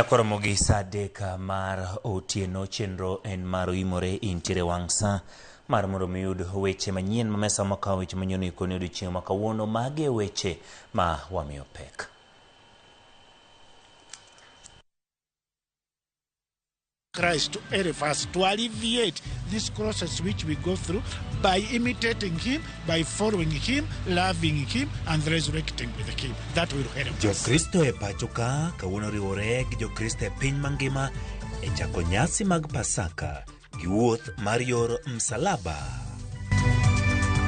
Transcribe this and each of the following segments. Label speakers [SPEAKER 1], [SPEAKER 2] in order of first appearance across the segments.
[SPEAKER 1] Akoromo gi saa adek mar otieno. Chenro en mar Oimore intiere wang' saa mar mondo mi uyud weche manyien ma mesa makawo weche manyien ikoni odiochieng' ma kawuono. Mage weche ma wamiyo pek.
[SPEAKER 2] Christ to help us to alleviate this process which we go through by imitating Him, by following Him, loving Him, and resurrecting with Him. That will help us. Jokristo e pacho ka
[SPEAKER 3] kawuono riwore gi Jokristo e piny mangima e chako nyasi mag Pasaka gi wuoth mar yor msalaba.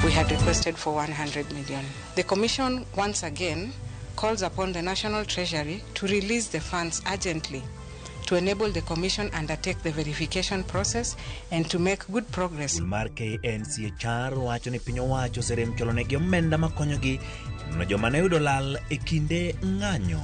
[SPEAKER 4] We had requested for 100 million. The Commission once again calls upon the National Treasury to release the funds urgently to enable the Commission undertake the verification process and to make good progress. Skul mar KNCHR
[SPEAKER 3] wacho ni piny owacho oserem cholonegi omenda makonyogi nono joma ne yudo lal e kinde ng'anyo.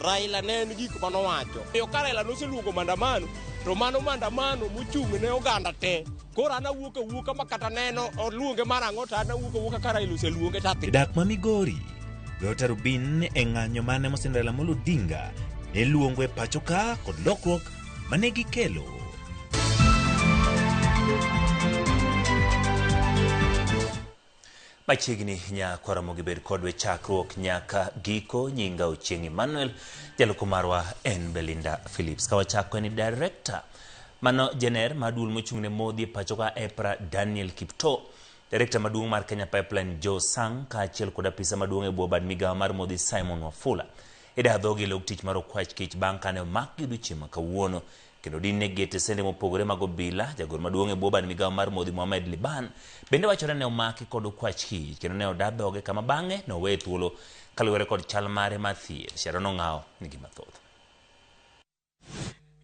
[SPEAKER 5] Raila ne en gik manowacho. Omiyo ka Raila noseluongo maandamano to mano maandamano mochung' ne oganda te. Koro an awuok awuoka ma kata neno oluonge mar ang'o to an awuok awuoka ka Raila oseluonge to adhi. Dak ma Migori,
[SPEAKER 3] Dr. Rubin e ng'anyo mane mosend Raila Amolo Odinga ne luongo e pacho ka kod lokruok mane gikelo.
[SPEAKER 1] Machiegni nyakwara mogi bed kodwe chakruok nyaka giko. Nyinga Ochieng' Emmanuel, jaloko marwa en Belinda Phillips. Ka wachako en director mano jener mar duol mochung' ne modhi e pachoka EPRA Daniel Kipto, director maduong' mar Kenya Pipeline Joe Sang kaachiel kod apisa maduong' e bwo bad migawo mar modhi Simon Wafula. Ida dhogi e log tich mar Okwach Kich bang' kane omakgi odiechieng' ma kawuono. kendo din ne gete sende mopogore mag obila. Jagoro maduong' e bwo bad migawo mar Modhi Mohamed Liban bende wachore ne omaki kod okwach kich kendo ne oda dhoge kama bang'e ne oweye thuolo kaluwore kod chal mare mar thieth. Sharon Ong'awo nigi mathoth.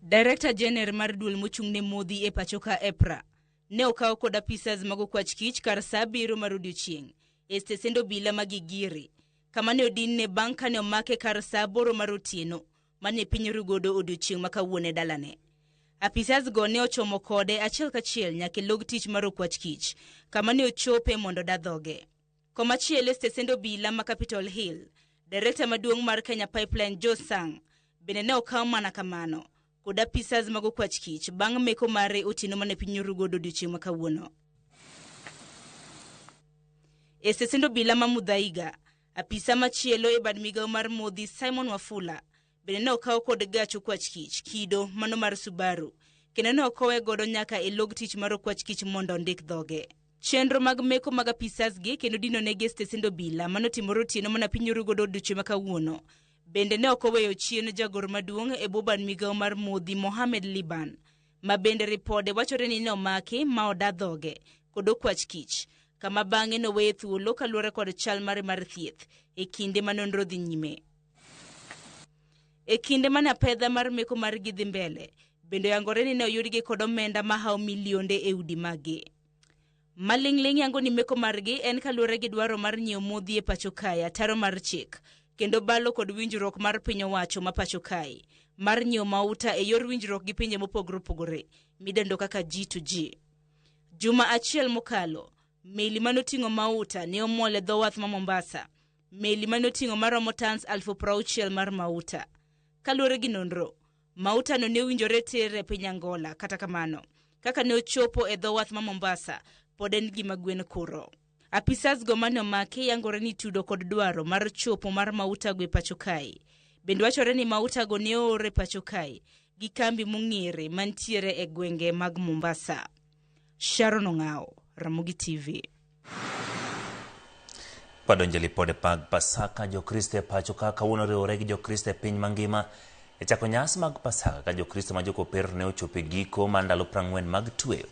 [SPEAKER 6] Director Jener mar duol mochung' ne modhi e pachoka EPRA ne okaw kod apisas mag okwach kich kar saa abiriyo mar odiochieng' e stesend obila ma Gigiri kama ne odinne bang' kane omake kar saa aboro mar otieno mane piny ru godo odiochieng' ma kawuono e dalane. Apisas go ne ochomo kode achiel kachiel nyaka e log tich mar okwach kich, kama ne ochope mondo oda dhoge. Komachielo e stesend obila ma Capitol Hill, Direkta maduong' mar Kenya Pipeline Joe Sang bende ne okaw mana kamano kod apisas mag okwach kich bang' meko mare otieno mane piny oru godo odiochieng' ma kawuono. E stesend obila ma Muthaiga, Apisa machielo e bad migawo mar Modhi, Simon Wafula, bende ne okaw kod gach okwach kich kido mano mar Subaru kendo ne okowe godo nyaka e log tich mar okwach kich mondo ondik dhoge. Chenro mag meko mag apisas gi kendo dino negi e stesend obila mano timore otieno mana piny oru godo odiochieng' ma kawuono. Bende ne ok oweyo chien jagoro maduong' e bwo bad migawo mar Modhi, Mohamed Liban, ma bende ripode wachore ni nomaki ma oda dhoge kod okwach kich, kama bang'e noweye thuolo kaluwore kod chal mare mar thieth e kinde ma nonro dhi nyime. E kinde mane apedha mar meko margi dhi mbele, bende oyangore ni ne oyudgi kod omenda mahawo milionde e udi maggi. Maling'ling' yango ni meko margi en kaluwore gi dwaro mar nyiewo modhi e pacho kae, ataro mar chik, kendo balo kod winjruok mar piny owacho ma pacho kae mar nyiewo mauta e yor winjruok gi pinje mopogore opogore midendo kaka G to G. Juma achiel mokalo, meli mane oting'o mauta ne omol e dho wath ma Mombasa. Meli mane oting'o maromo tans alfu prauchiel mar mauta. Kaluwore gi nonro, Mautano ne winjore tir e piny Angola, kata kamano, kaka ne ochopo e dho wath ma Mombasa, pod en gima gwen kuro. Apisasgo ma nomaki yangore ni tudo kod dwaro mar chopo mar mautago e pacho kae. Bende wachore ni mautago ne oor e pacho kae gi kambi mong'ere mantiere e gwenge mag Mombasa. Sharon Ong'aw, Ramogi TV.
[SPEAKER 1] Wadonjo e lipode mag Pasaka Jokristo e pacho ka kawuono riwore gi Jokristo e piny mangima e chako nyasi mag Pasaka ka Jokristo ma jokopere ne ochopo e giko mar ndalo prang'wen mag tweyo.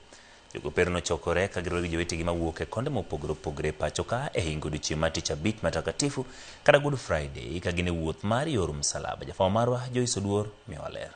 [SPEAKER 1] Jokopere nochokore ka giriwore gi jowetegi mawuok e konde mopogore opogore e pacho ka e hingo odiechieng' mar tich abich matakatifu kata Good Friday ka gin e wuoth mar yor msalaba. Jafwambo marwa Joyce Oduor miyowa ler.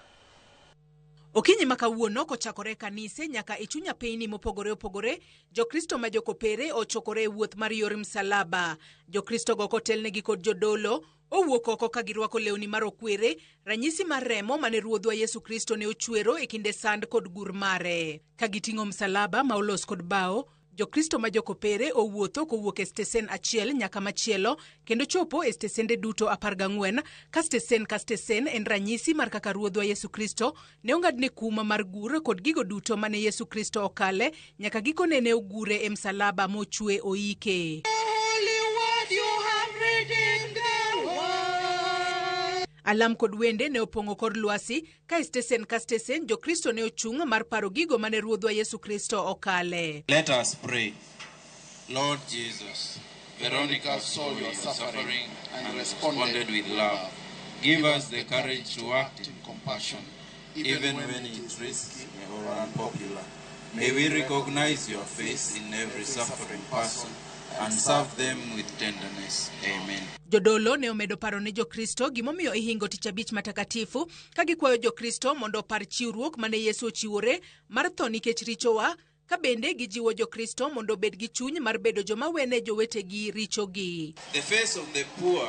[SPEAKER 7] Okinyi ma kawuono kochakore e kanise nyaka e chunya piny mopogore opogore, Jokristo ma jokopere ochokore e wuoth mar yor msalaba. Jokristo go kotelnegi kod jodolo, owuok oko ka girwako lewni ma rokwere, ranyisi mar remo mane Ruodhwa Yesu Kristo ne ochwero e kinde sand kod gur mare. Ka giting'o msalaba ma olos kod bao, Jokristo ma jokopere owuotho kowuok e stesen achiel nyaka machielo kendo chopo e stesende duto apar gang'wen ka stesen ka stesen en ranyisi mar kaka Ruodhwa Yesu Kristo ne ong'adne kum mar gur kod gigo duto mane Yesu Kristo okale nyaka gikone ne ogure e msalaba mochwe oike. Alam kod wende ne opong'o kor lwasi Ka e stesen ka stesen, Jokristo ne ochung' mar paro gigo ma ne Ruodhwa Yesu Kristo okale. Let us pray.
[SPEAKER 8] Lord Jesus, Veronica saw your suffering and responded with love. Give us the courage to act in compassion, even when it risks or unpopular. May we recognize your face in every suffering person and serve them with tenderness. Amen. Jodolo ne omedo
[SPEAKER 7] paro ne Jokristo gimomiyo ihingo Tich Abich Matakatifu ka gikwayo Jokristo mondo opar chiwruok mane Yesu ochiwore mar tho nikech richowa, ka bende gijiwo Jokristo mondo obed gi chuny mar bedo joma wene jowetegi richogi. The face of the
[SPEAKER 8] poor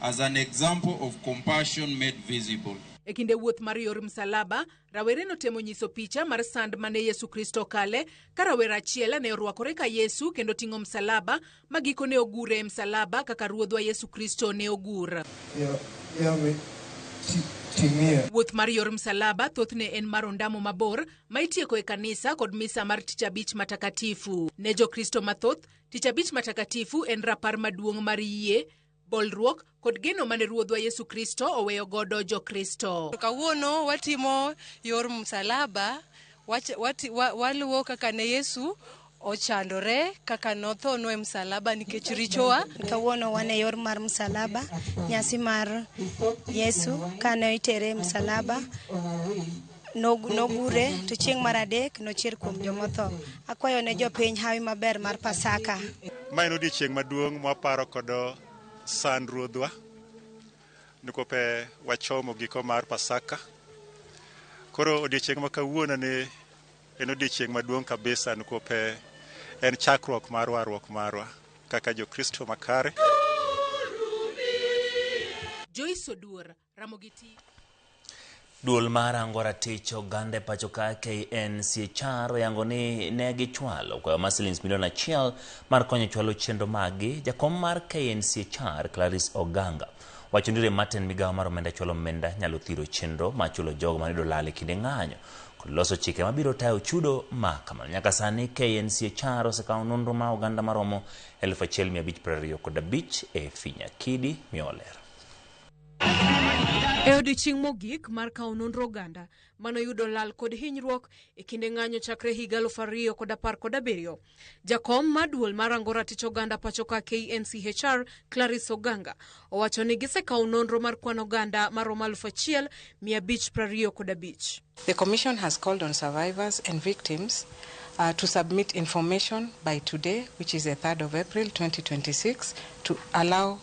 [SPEAKER 8] as an example of compassion made visible. E kinde wuoth mar
[SPEAKER 7] yor msalaba, rawere notemo nyiso picha mar sand ma ne Yesu Kristo kale, ka rawera achiel ne orwakore ka Yesu kendo ting'o msalaba, ma giko ne ogure e msalaba kaka Ruodhwa Yesu Kristo ne ogur. Wuoth mar yor msalaba thothne en mar ondamo mabor ma itieko e kanisa kod misa mar Tich Abich Matakatifu. Ne Jokristo mathoth, Tich Abich Matakatifu en rapar maduong' mar yie, bolruok kod geno mane Ruodhwa Yesu Kristo oweyo godo Jokristo. Kawuono watimo
[SPEAKER 4] yor msalaba, wach- wati- wa- waluwo kaka ne Yesu ochandore, kaka nothonwa e msalaba nikech richowa. Kawuono wan e yor
[SPEAKER 9] mar msalaba, nyasi mar Yesu kane itere e msalaba. Nog- Nogure to chieng' mar adek nochier kuom jomotho. Akwayo ne jopiny hawi maber mar Pasaka. Ma en odiechieng'
[SPEAKER 10] maduong' mwaparo kodo sand ruodhwa nikope wachomo giko mar Pasaka. Koro odiechieng' ma kawuono ni en odiechieng' maduong' kabisa nikope en chakruok mar warruok marwa kaka Jokristo makare.
[SPEAKER 7] Joyce Oduor, Ramogi TV.
[SPEAKER 1] Duol mar Ango Ratich Oganda e pacho ka KNCHR oyango ni ne gichwalo kwayo mar silings milion achiel mar konyo chwalo chenro maggi. Jakom mar KNCHR Clarice Oganga wacho ni rem matin migawo mar omenda chwalo omenda nyalo thiro chenro ma chulo jogo mane dolal e kinde ng'anyo kod loso chike mabiro tayo chudo ma kamano. Nyaka sani KNCHR osekawo nonro ma oganda maromo 1,525 e Finyakidi miyo olero.
[SPEAKER 11] E odiechieng' mogik mar kawo nonro oganda mano yudo lal kod hinyruok e kinde ng'anyo chakre higa aluf ariyo kod apar kod abiriyo, jakom ma duol ma rango ratich oganda pachoka KNCHR Clarice Oganga owacho ni gisekawo nonro mar kwan oganda maromo aluf achiel mia abich prariyo kod abich. The Commission has
[SPEAKER 4] called on survivors and victims uh, to submit information by today, which is the 3rd of April 2026, to allow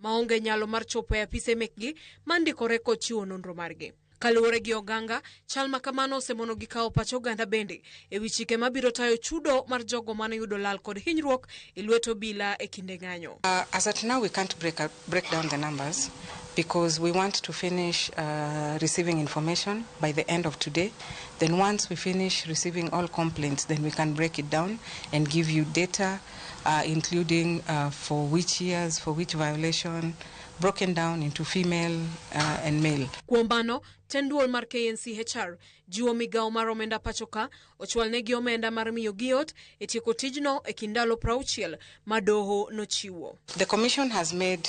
[SPEAKER 11] maonge nyalo mar chopo e apise mekgi mandikore kod chiwo nonro margi. Kaluwore gi Oganga, chal ma kamano osemono gi kawo pach oganda bende e wi chike mabiro tayo chudo mar jogo mane yudo lal kod hinyruok e lwet obila e kinde ng'anyo. Uh, as at now, we can't
[SPEAKER 4] break, up, break down the numbers because we want to finish uh, receiving information by the end of today. Then once we finish receiving all complaints, then we can break it down and give you data uh, including uh, for which years, for which violation, broken down into female uh, and male. Kuom mano, tend
[SPEAKER 11] duol mar KNCHR jiwo migawo mar omenda pachoka ochwalnegi omenda mar miyo giot e tieko tijno e kind ndalo
[SPEAKER 4] prauchiel
[SPEAKER 11] ma
[SPEAKER 4] doho
[SPEAKER 11] nochiwo.
[SPEAKER 4] The
[SPEAKER 11] commission has
[SPEAKER 4] made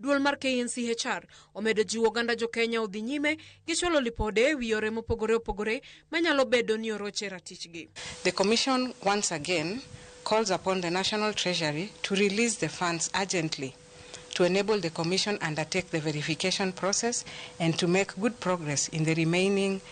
[SPEAKER 11] Duol mar KNCHR omedo jiwo oganda jo Kenya odhi nyime gi chwalo lipode e wi yore mopogore opogore manyalo bedo ni oroche ratichgi. The Commission
[SPEAKER 4] once again calls upon the National Treasury to release the funds urgently to enable the Commission undertake the verification process and to make good progress in the remaining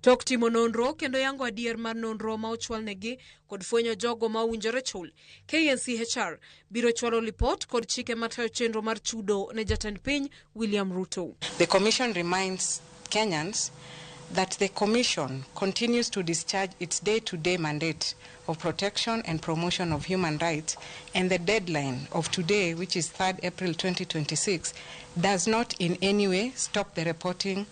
[SPEAKER 4] Tok timo nonro
[SPEAKER 11] kendo yango adier mar nonro ma ochwalnegi kod fwenyo jogo ma owinjore chul, KNCHR biro chwalo lipot kod chike matayo chenro mar chudo ne jatend piny William Ruto. The Commission
[SPEAKER 4] reminds Kenyans that the Commission continues to discharge its day-to-day mandate of protection and promotion of human rights and the deadline of today, which is 3rd April 2026, does not in any way stop the reporting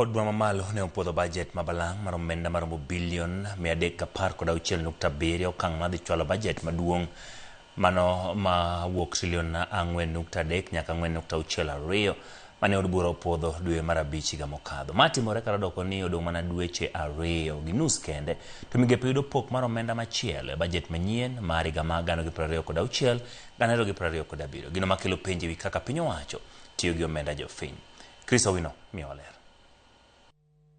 [SPEAKER 1] Od bura mamalo ne opuodho bajet ma balang' mar omenda maromo bilion 316.7 e okang' madhi chwalo bajet maduong' mano ma wuok trilion 4.3 nyaka 4.62 mane od bura opuodho dwe mar abich higa mokadho. Ma timore kata doko ni odong' mana dweche ariyo gi nus kende to migepe yudo pok mar omenda machielo e bajet manyien mar higa ma 2026 2027. Gino makelo penjo e wi kaka piny owacho tiyo gi omenda jopiny. Chris Owino miyowa ler.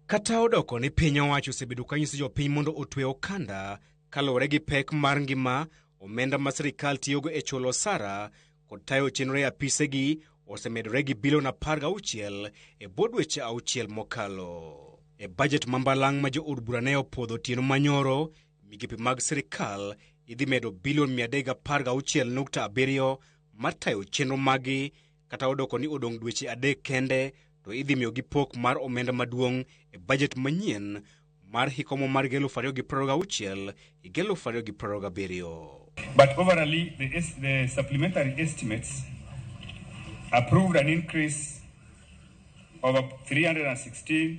[SPEAKER 12] Kata odoko ni piny owacho osebedo ka nyiso jopiny mondo otwe okanda kaluwore gi pek mar ngima, omenda ma sirkal tiyogo e chulo osara kod tayo chenro e apisegi osemedore gi bilion 16 e bwo dweche auchiel mokalo. E bajet ma mbalang' ma jood bura ne opwodho otieno manyoro, migepe mag sirkal idhi medo bilion 316.7 mar tayo chenro maggi kata odoko ni odong' dweche adek kende to idhi miyogi pok mar omenda maduong' e bajet manyien mar hikomo mar higa eluf ariyo gi piero gauchiel higa eluf ariyo gi piero gabiriyo. But
[SPEAKER 13] overally, the, es- the supplementary estimates approved an increase of up 316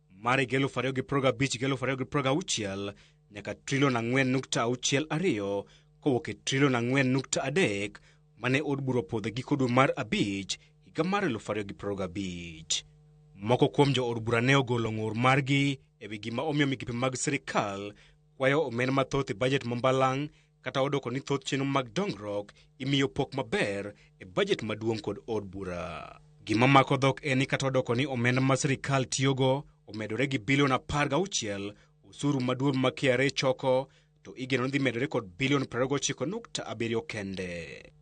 [SPEAKER 12] mar higa 2015 gi 2016 nyaka trilion 4.62 kowuok e trilion 4.3 mane od bura opodho e giko dwe mar abich higa mar 2015. Moko kuom jo od bura ne ogolo ng'ur margi e wi gima omiyo migepe mag sirkal kwayo omenda mathoth e bajet ma mbalang' Kata odoko ni thoth chenro mag dongruok imiyo pok maber e bajet maduong' kod od bura. Gima mako dhok en ni kata odoko ni omenda ma sirkal tiyogo omedore gi bilion apar gauchiel osuru maduong' ma KRA choko to igeno ni dhi medore kod bilion 29.7 kende.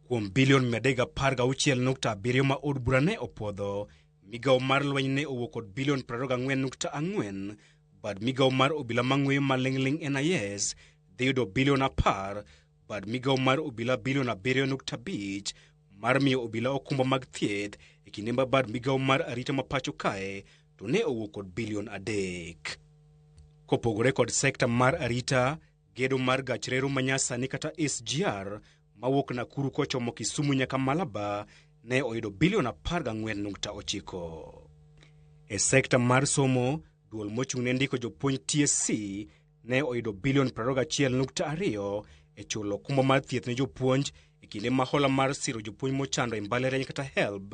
[SPEAKER 12] Kuom bilion 316.7 ma od bura ne opwodho, migawo mar lweny ne owuok kod bilion 24.4 bad migawo mar obila mang'weyo maling'ling' NIS dhi yudo bilion apar bad migawo mar obila bilion abiriyo nukta abich mar miyo obila okumba mag thieth e kinde ma bad migawo mar arita ma pacho kae to ne owuok kod bilion adek. Kopogore kod sekta mar arita, Gedo mar gach reru manyasani kata SGR mawuok Nakuru kochomo Kisumu nyaka Malaba ne oyudo bilion 14.9. E sekta mar somo, duol mochung' ne ndiko jopuonj TSC ne oyudo bilion 21.2 e chulo okumba mar thieth ne jopuonj e kinde ma hola mar siro jopuonj mochando e mbalariany kata HELB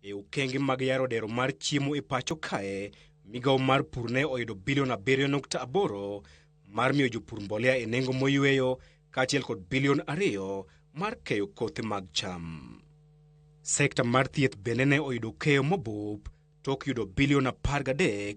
[SPEAKER 14] E okenge
[SPEAKER 12] mag yaro dero mar chiemo e pacho kae, migawo mar pur ne oyudo bilion 7.8 mar miyo jopur mbolea e nengo moyweyo kaachiel kod bilion 2 mar keyo kothe mag cham. Sekta mar thieth bende ne oyudo keyo mobup tok yudo bilion 13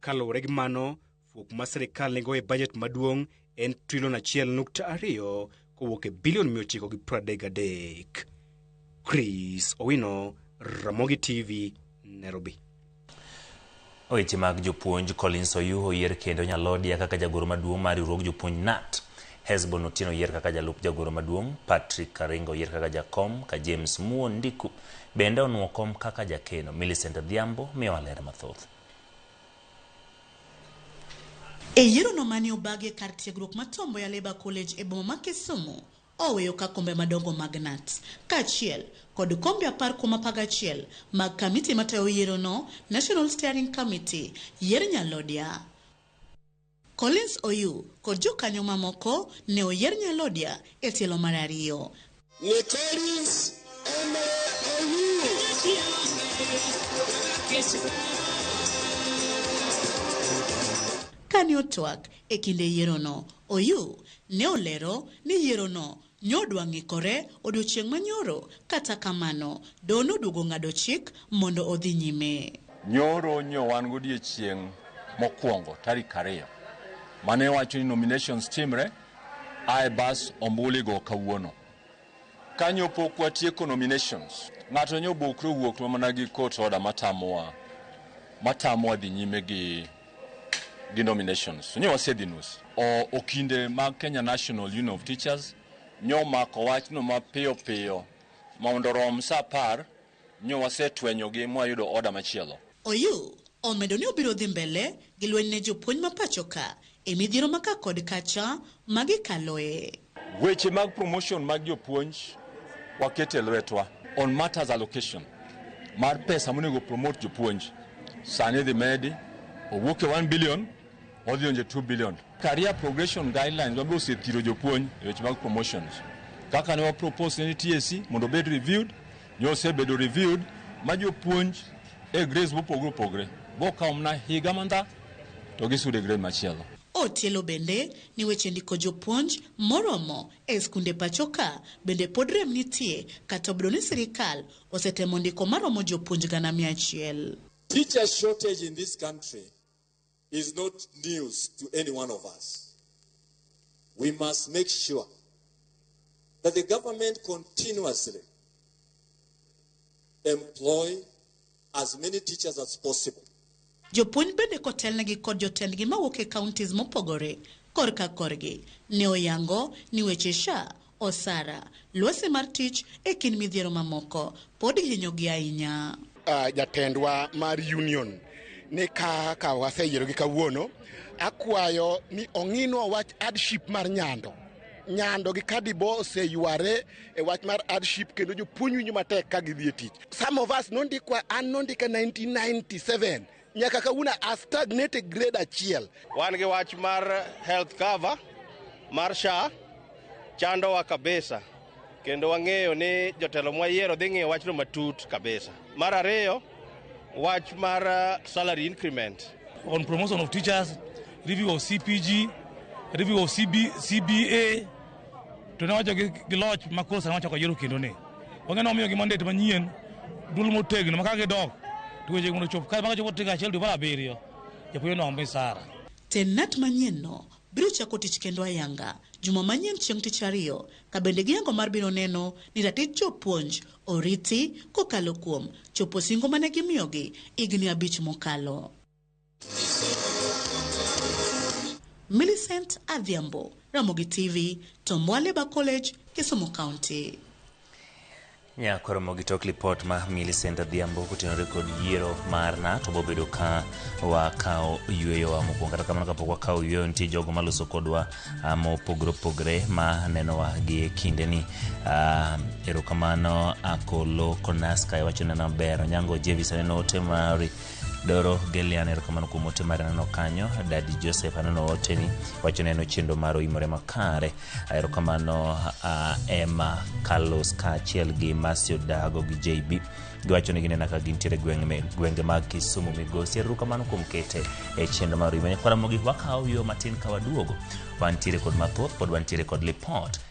[SPEAKER 14] Kaluwore gi mano,
[SPEAKER 12] fuok ma sirkal nigo e bajet maduong' en trilion achiel nukta ariyo kowuok e bilion mia ochiko gi piero adek gadek. Chris Owino, Ramogi TV, Nairobi.
[SPEAKER 1] Weche mag jopuonj Collins Oyuho oyier kendo Nyalodia kaka jagoro maduong' mar riwruog jopuonj NAT. Hesbon Otieno oyier kaka jalup jagoro maduong', Patrick Karinga oyier kaka jakom, ka James Muon Ndiku bende onwo kom kaka jakeno. Millicent Adhiambo miyowa ler mathoth.
[SPEAKER 15] E yierono mane obagi e kar tiegruok ma Tom Mboya Labour College e boma ma Kisumu, oweyo ka kombe madongo mag Knut, kaachiel kod kombe apar kuom apar gachiel mag kamiti matayo yierono, National Steering Committee, yier nyalhodia. Collins Oyuu kod jokanyo mamoko ne oyier nyalodia e tielo mar ariyo. Ni
[SPEAKER 16] Collins
[SPEAKER 15] Kane otwak e kinde yierono, Oyuu ne olero ni yierono Nyodwa ng'ikore odiechieng' ma nyoro, kata kamano, do noduogo ng'ado chik mondo odhi nyime. Nyoro nyo
[SPEAKER 17] wan godiechieng' mokwongo tarik ariyo, mane iwacho ni nominations timre, ae bas ombulu igo kawuono. Ka nyo pok watieko nominations, ng'ato nyo obokre owuok to mana gi court order matamowa, matamowa dhi nyime gi. denominations nyo wasedhinus o okinde mag Kenya National Union of Teachers nyo mako wachno mapiyo piyo mondo rom sa apar nyo wasetwenyogi mwayudo oda machielo. Oyuu
[SPEAKER 15] omedo ni obiro dhi mbele gi lweny ne jopuonj ma pachoka e midhiero ma ka kod kacha ma gikaloe. Weche mag
[SPEAKER 17] promotion mag jopuonj wakete lwetwa on matters allocation mar pesa monego promote jopuonj sani dhi medi owuok e 1 billion odhi onje 2 billion career progression guidelines wabiro osethiro jopuonj e weche mag promotions kaka ne wapropose ne TSC mondo obed reviewed ne osebedo reviewed ma jopuonj e grades mopogore opogore bokawo mana higa mandha to gisudo e grade machielo Otielo bende
[SPEAKER 15] ni weche ndiko jopuonj moromo e skunde pachoka bende pod rem nitie kata obedo ni sirikal osetemo ndiko maromo jopuonj gana mia achiel. Teacher
[SPEAKER 16] shortage in this country is not news to any one of us. We must make sure that the government continuously employ as many teachers as possible. Jopuonj
[SPEAKER 15] bende kotelnegi kod jotendgi mawuok e counties mopogore korka korgi ne oyango ni weche SHA, osara, lwasi mar tich e kind midhiero mamoko pod hinyogi ahinya. Uh, jatendwa
[SPEAKER 18] mar union ni ka ka waseyiero gi kawuono akwayo ni ong'inwa wach hardship mar nyando nyando gi kadibo oseyware e wach mar hardship kendo jopuonj winjo matek ka gidhi e tich Some of us nondikwa an nondika 1997 nyaka kawuono a stagnate e grade achiel. Wan gi wach
[SPEAKER 5] mar health cover mar SHA chandowa kabisa kendo wang'eyo ni jotelo mwayiero dhi ng'iyo wachno matut kabisa. Mar ariyo wach mar uh, salary increment on
[SPEAKER 19] promotion of teachers, review of CPG, review of CB, CBA, to ne wacho gi loch ma koro sani wacho kajero kendo ni onge ne omiyogi mandet manyien dul motegno ma ka gidok to weche mondo chop kae maka chopo tiga achiel dwe mar abiriyo japuonj no ombe sara tenant manyien
[SPEAKER 15] no biro chako tich kendo ayanga juma manyien chieng' tich ariyo ka bende giyango mar biro neno ni ratich jopuonj oriti kokalo kuom chopo singo mane gimiyogi higni abich mokalo Millicent Adhiambo, Ramogi TV, Tomwaleba College, Kisumu County. nyakoro
[SPEAKER 1] mogi tok lipot ma Millicent Adhiambo kotenore kod yiero marna to bobedo ka wakawo yueyowa mokwongo kata kamano kapok wakawo yueyo nitie jogo maloso kodwa ah, mopogore opogore ma nenowa gi e kindeni Ah, erokamano akolo konaska iwacho nena ber onyango jevis aneno ote mari Doro Gelian, erokamano kuom ote mar neno kanyo. Dadi Joseph aneno oteni, wacho neno chendo mar oimore makare. Erokamano uh, Emma Carlos kaachiel gi Masio Dago gi JB giwacho ni ginena ka gintiere gwenge me- gwenge mag Kisumu migosi. Erokamano kuom kete e chendo mar oimore. Kwara mogik wakawo yo matin ka waduogo. Wantiere kod mathoth pod wantiere kod lipot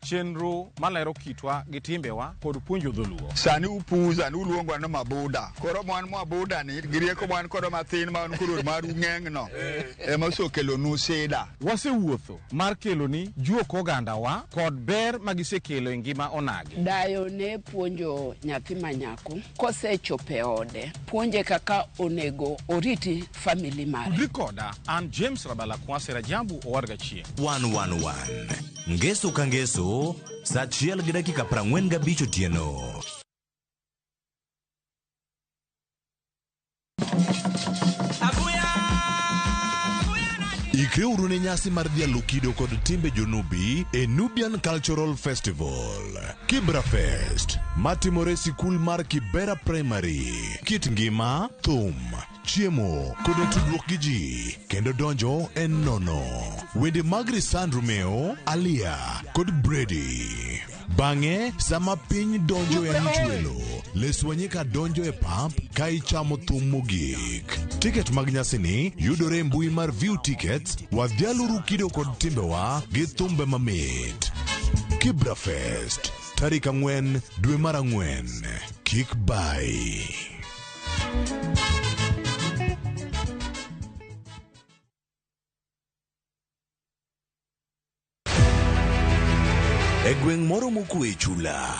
[SPEAKER 20] chenro malero kitwa gi timbewa kod puonjo dholuo. Sani upuza ni
[SPEAKER 21] uluongwa ni mabuda. Koro mwan mabuda ni gi rieko mwan kod mathin ma wan koro mar ung'eng' no ema osekelo nu sida. Wasewuotho
[SPEAKER 20] mar kelo ni juok oganda wa kod ber ma gisekelo e ngima onagi. Dayo ne
[SPEAKER 22] puonjo nyathi manyako kosechope ode puonje kaka onego oriti famili mare. Udri koda an
[SPEAKER 20] James Rabala Kwase Rajabu owarga chieng'. One one one.
[SPEAKER 23] Ngeso ka ngeso, sa achiel gi dakika prang'wen gabich otieno. Ikre uru ne nyasi mar dhialo kido kod timbe jonubi e Nubian Cultural Festival. Kibra Fest matimore e sikul mar Kibera Primary. Kit ngima, thum, chiemo koda tudruok gi ji kendo donjo en nono wende mag risan romeo alia kod bredi bang'e sama piny donjo e anchwelo leswanyika donjo e pap ka ichamo thum mogik tiket mag nyasini yudore e mbui mar view tickets wadhialuru kido kod timbewa gi thumbe mamit kibra fest tarik ang'wen dwe mar ang'wen kik bai E gweng' moro mokue e chula,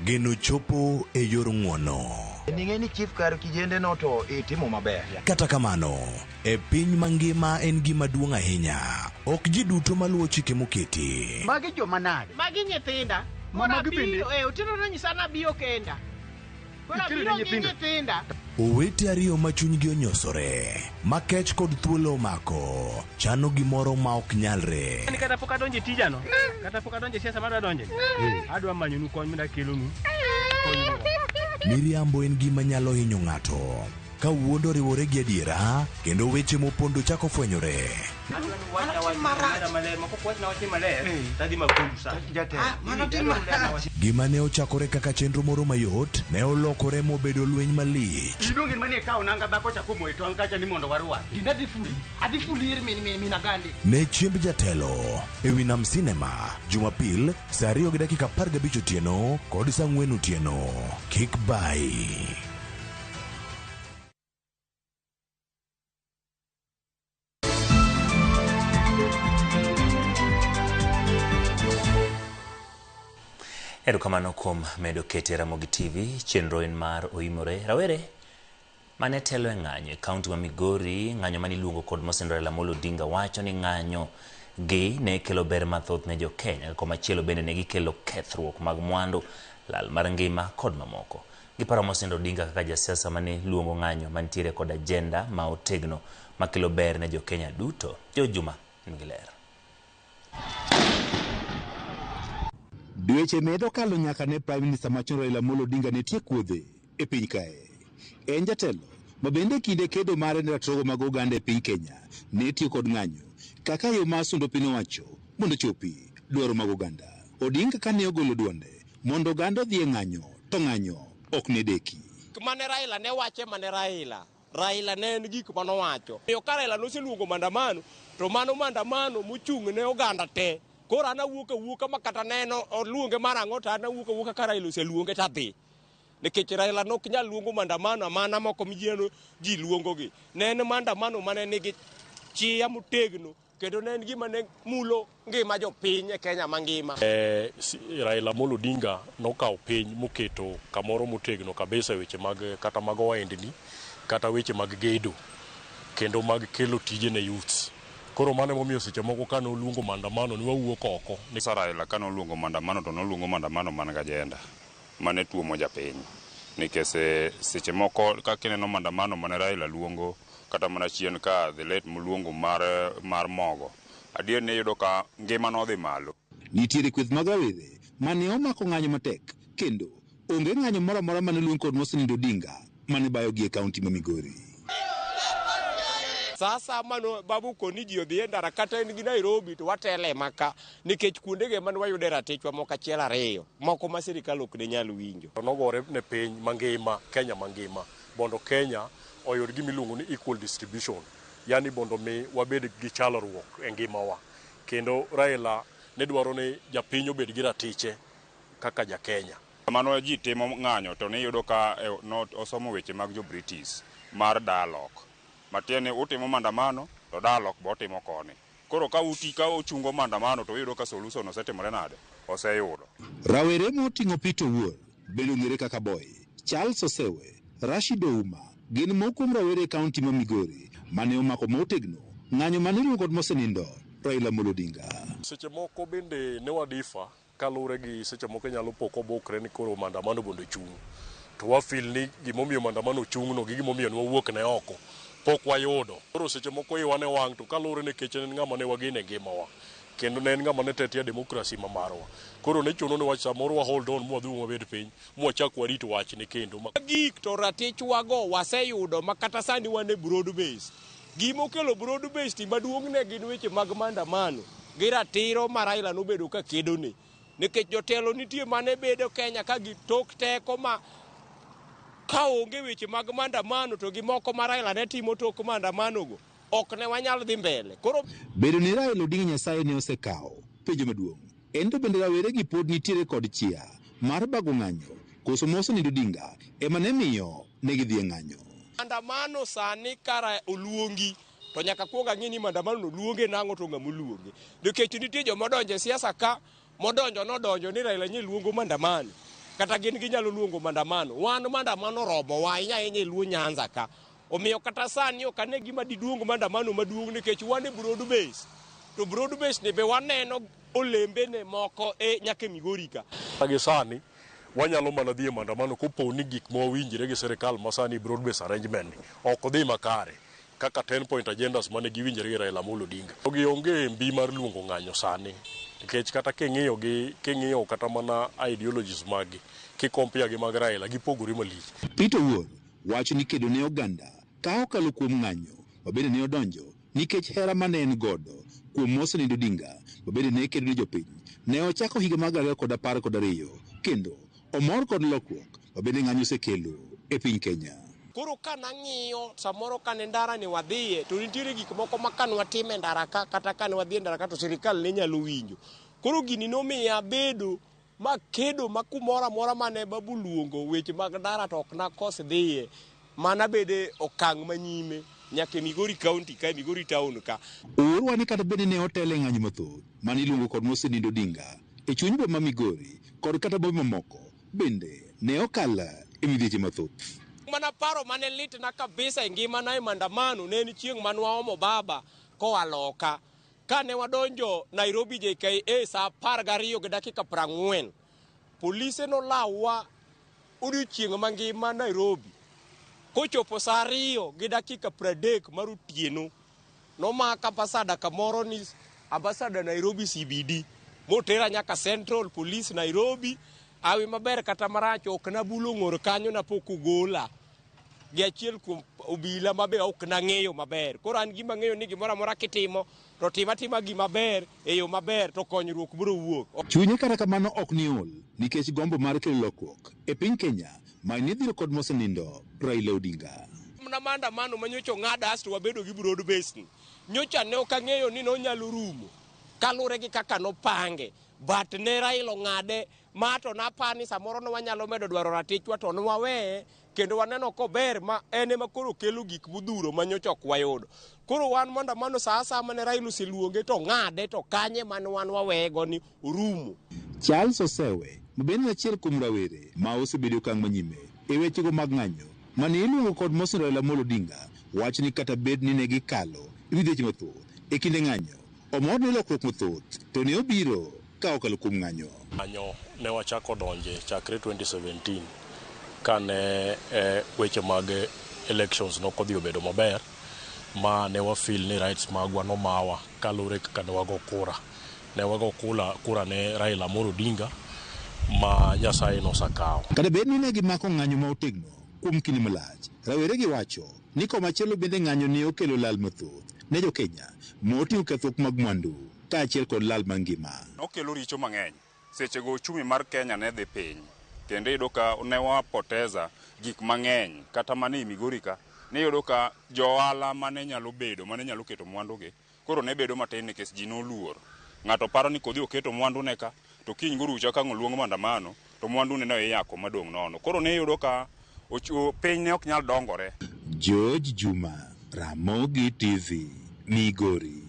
[SPEAKER 23] geno chopo e yor ng'wono. Ning'e ni chief
[SPEAKER 24] kar kijende no to itimo maber. Kata kamano,
[SPEAKER 23] e piny mangima en gima duong' ahinya. Ok ji duto maluwo chike moketi. Magi joma nade?
[SPEAKER 24] Magi nyithinda.
[SPEAKER 25] Mama Mora gi bende. biro,
[SPEAKER 24] eh, otieno nonyisa
[SPEAKER 25] nabiyo kenda. Koro abiro gi nyithinda. Owete ariyo
[SPEAKER 23] ma chunygi onyosore, ma kech kod thuolo omako, chano gimoro ma ok nyalre. Ni kata pok adonje
[SPEAKER 25] tijano, kata pok adonje siasa madwa donje, adwa manyonu kony mda kelonu. Miriambo
[SPEAKER 23] en gima nyalo hinyo ng'ato. Ka wuond oriwore gi adiera, kendo weche mopondo chako fwenyore. Gima ne ochakore kaka chenro moro mayot, ne olokore mobedo lweny malich. Idonge mane kawo nanga
[SPEAKER 24] dhako chako moyo tong' kacha ni mondo warwa. Dinda dhi fuli. Adhi fuli ir min min min agandi. Ne chiemb jatelo
[SPEAKER 23] e wi nam sinema jumapil saa ariyo gi dakika apar gabich otieno kod saa ang'wen otieno kik bayi
[SPEAKER 1] Erokamano kuom medo kete Ramogi TV. Chenro en mar Oimore Rawere mane telo e ng'anyo e kaunti ma Migori, ng'anyo mane iluongo kod Mosend Raila Amolo Odinga wacho ni ng'anyo gi ne kelo ber mathoth ne jo-Kenya, koma chielo bende ne gikelo kethruok mag mwandu, lal mar ngima kod mamoko. Giparo mosenindo Odinga kaka jasiasa mane luongo ng'anyo mantiere kod agenda ma otegno makelo ber ne jokenya duto. Joe Juma nigi ler.
[SPEAKER 2] Dweche medo kalo nyaka ne Prime Minister machon Raila Amolo Odinga ne tiek wuodhe e piny kae. En jatelo ma bende e kinde kedo mare ne ratiro mag oganda e piny Kenya ne tiyo kod ng'anyo kaka yo mar sundo piny owacho mondo ochopi dwaro mag oganda. Odinga kane ogolo duonde Mondo oganda odhi e ng'anyo, to ng'anyo ok ne deki. Gik mane Raila ne
[SPEAKER 5] wacho ema ne Raila. Raila ne en gik mane owacho. Omiyo ka Raila noseluongo maandamano, to mano maandamano mochung' ne oganda te. Koro an awuok awuoka ma kata ne en oluonge mar ang'o to an awuok awuoka ka Raila oseluonge to adhi. Nikech Raila ne ok nyal luongo maandamano amana moko mineno ji luongogi. Ne en maandamano mane nigi chia motegno. kendo ne en gima ne mulo ngima jopiny e Kenya mangima. Eh, si- Raila
[SPEAKER 3] Amolo Odinga nokawo piny moketo kamoro motegno kabisa e weche mag kata mag ohendni kata weche mag gedo kendo mag kelo tije ne youths. Koro mano emomiyo seche moko ka noluongo maandamano ne wawuok oko. Raila ka noluongo
[SPEAKER 6] maandamano to noluongo maandamano man gi ajenda. mane tuomo japiny nikech eh, seche moko kaka ineno mandamano mane Raila luongo kata mana chien ka the late muluongo mar, mar mogo adier ni iyudo ka ngima nodhi malo Nitiere kweth mag
[SPEAKER 2] rawere mane omako ng'anyo matek kendo onge ng'anyo moro amora mane oluong kod Mosenindo Odinga mane bayogi e kaunti ma Migori.
[SPEAKER 5] Sasa mano babu koni ji odhi e ndara kata en gi Nairobi to watele maka. nikech kuondego ema ne wayude ratichwa moko achiel ariyo moko ma sirikal ok ne nyal winjo. To nogore ne piny
[SPEAKER 3] mangima, Kenya mangima, mondo Kenya oyud gima iluongo ni equal distribution, yani mondo mi wabed gi chalruok e ngimawa. Kendo Raila ne dwaro ni japiny obed gi ratiche kaka ja Kenya. Kamano ji timo
[SPEAKER 6] ng'anyo to niyudo ka osomo weche mag jo British mar dialogue. Matiende ni utimo mandamano to dialogue be otimo koni. Koro ka uti ka uchungo mandamano to uyudo ka solution osetimore nade? Oseyudo. Rawere
[SPEAKER 2] moting'o Peter Owuor, bende ong'ere kaka Boy, Charles Osewe, Rashid Ouma gin moko kuom rawere e kaunti ma Migori mane omako motegno ng'anyo mane iluongo kod mosenindo Raila Amolo Odinga. Seche moko
[SPEAKER 3] bende ne wa differ. Kaluwre gi seche moko inyalo po kobukre ni koro mandamano bende ochung'. To wa feel ni gimomiyo mandamano ochung' no gi gimomiyo ne wawuok ne oko pok wayudo. Koro seche moko iwa ne wang' to kaluwre ni Keche ne en ng'ama ne wageno e ngima wa kendo ne en ng'ama ne tetea democracy ma marwa. Koro ne chuno ni wa samoro wa hold on ma wadhi uru wabed piny ma wachak warit wachne kendo. Mogik to ratich
[SPEAKER 5] wa go waseyudo makata sani wan e broad base. Gima okelo broad based maduong' ne gin weche mag mandamano gi ratiro ma Raila nobedo ka kedo ni. Nikech jotelo nitie mane bedo Kenya ka gitok teko ma ka onge weche mag mandamano to gi moko ma Raila ne timo tok mandamano go ok ne wanyal dhi mbele. Koro. Bedo ni Raila
[SPEAKER 2] Odinga Nyasaye ne osekawo. Penjo maduong'. En to bende rawere gi pod nitiere kod chia mar bago ng'anyo koso ma osenindo Odinga ema ne miyo ne gidhi e ng'anyo. Mandamano
[SPEAKER 5] sani kara oluongi to nyaka akuong ang'e ni mandamano no luonge nang'o to ng'ama oluonge. Nikech nitie joma odonjo e siasa ka modonjo nodonjo ni Raila nye luongo mandamano kata gin ginyalo luongo mandamano. Wan mandamano oromowa ahinya ahinya e Luo Nyanza ka. Omiyo kata sani ok ane gima diduong mandamano maduong' nikech wan e broad base. To broad base ni be waneno olembene moko e nyaka e Migori ka. Agi sani
[SPEAKER 3] wanyalo mana dhi e mandamano kopo ni gik mawawinjre gi sirikal masani broad base arrangement ni ok odhi makare kaka 10 point agendas mane giwinjre gi Raila Amolo Odinga. Jogi onge mbi mar luongo ng'anyo sani nikech kata king'iyo gi king'iyo kata mana ideologies maggi ki compare gi mag Raila gipogore malich. Peter Wuoth
[SPEAKER 2] Wach ni kedo ne oganda ka okalo kuom ng'anyo ma bende ne odonjo nikech hera ma ne en godo kuom Mosenind Odinga ma bende ne kedo ne jopiny ne ochako higa mar gana ariyo kod apar kod ariyo kendo omor kod lokruok ma bende ng'anyo osekelo e piny Kenya. Koro ka
[SPEAKER 5] nang'iyo samoro ka ne ndara ni wadhiye to nitiere gik moko ma ka ne watimo e ndara ka kata ka ne wadhi e ndara ka to sirkal ne nyalo winjo. Koro gini nomiya abedo Ma kedo ma kumoro amora ma ne babu luongo weche mag ndara to ok nakos dhiye, ma nabede okang' ma nyime nyaka e Migori County ka, e Migori Town ka. Oorwa ni kata bed
[SPEAKER 2] ni ne otelo e ng'anyo mathoth ma ne iluongo kod Mosenindo Odinga e chuny boma ma Migori kod kata bombe mamoko bende ne okal e midhieche mathoth. Chieng' mana paro ma ne
[SPEAKER 5] litna kabisa e ngimana e Maandamano ne en chieng' ma nwaomo baba koa loka. Kane wadonjo Nairobi JKA saa apar gariyo gi dakika prang'wen, polise nolawa odiochieng' mangima Nairobi. Kochopo saa ariyo gi dakika pradek mar otieno, nomaka ambasada kamoro ni ambasada Nairobi CBD motera nyaka Central Police Nairobi. Awi maber kata marach ok nabulo ng'or kanyo napok ogola. gi achiel kuom obila ma be ok nang'eyo maber. Koro an gima ng'eyo ni gimoro amora kitimo to tim atima gima ber e yo maber to konyruok biro wuok. Chunye kata kamano ok
[SPEAKER 2] ni ol nikech gombo mar kelo lokruok e piny Kenya ma ni dhiro kod mosenindo Raila Odinga. Mana maandamano
[SPEAKER 5] ma nyocha ong'ada asto wabedo gi broad basin. Nyocha ne ok ang'eyo ni nonyalo rumo kalure gi kaka nopange but ne Raila ong'ade Ma to napar ni samoro ne wanyalo medo dwaro ratichwa to ne waweye kendo waneno kober ma en ema koro kelo gik modhuro ma nyocha ok wayudo. Koro wan maandamano sa asaya mane Raila oseluonge to ng'ade to kanye mane wan waweye go ni orumo. Charles
[SPEAKER 2] Osewe ma bende en achiel kuom rawere ma osebedo e okang' manyime e wechego mag ng'anyo mane iluongo kod mosni Raila Amolo Odinga wacho ni kata bed ni ne gikalo e midhieche mathoth e kinde ng'anyo, omor ni lokruok mathoth to ne obiro. ka okalo kuom ng'anyo. Ng'anyo ne
[SPEAKER 3] wachako donje chakre 2017 kane weche mag elections ne ok odhi obedo maber ma ne wa feel ni rights magwa nomawa kaluwore gi kaka ne wago kura. Ne wago kura ne Raila Amolo Odinga ma Nyasaye nosakawo. Kata bed ni ne gimako
[SPEAKER 2] ng'anyo ma otegno kuom kinde malach, raweregi wacho ni komachielo bende ng'anyo ne okelo lal mathoth ne jo Kenya ma oting'o kethruok mag mwandu. kaachiel kod lal mangima. Nokelo richo mang'eny.
[SPEAKER 6] Sechego ochumi mar Kenya ne dhi piny kendo iyudo ka ne wa poteza gik mang'eny kata mana e Migori ka niyudo ka jo ohala mane nyalo bedo mane nyalo keto mwandugi koro ne bedo matin nikech ji noluor. Ng'ato paro ni kodhi oketo mwandune ka to kiny gorucha kang' oluong mandamano to mwandune no iyako madong' nono. Koro niyudo ka piny ne ok nyal dongore. George
[SPEAKER 2] Juma, Ramogi TV, Migori.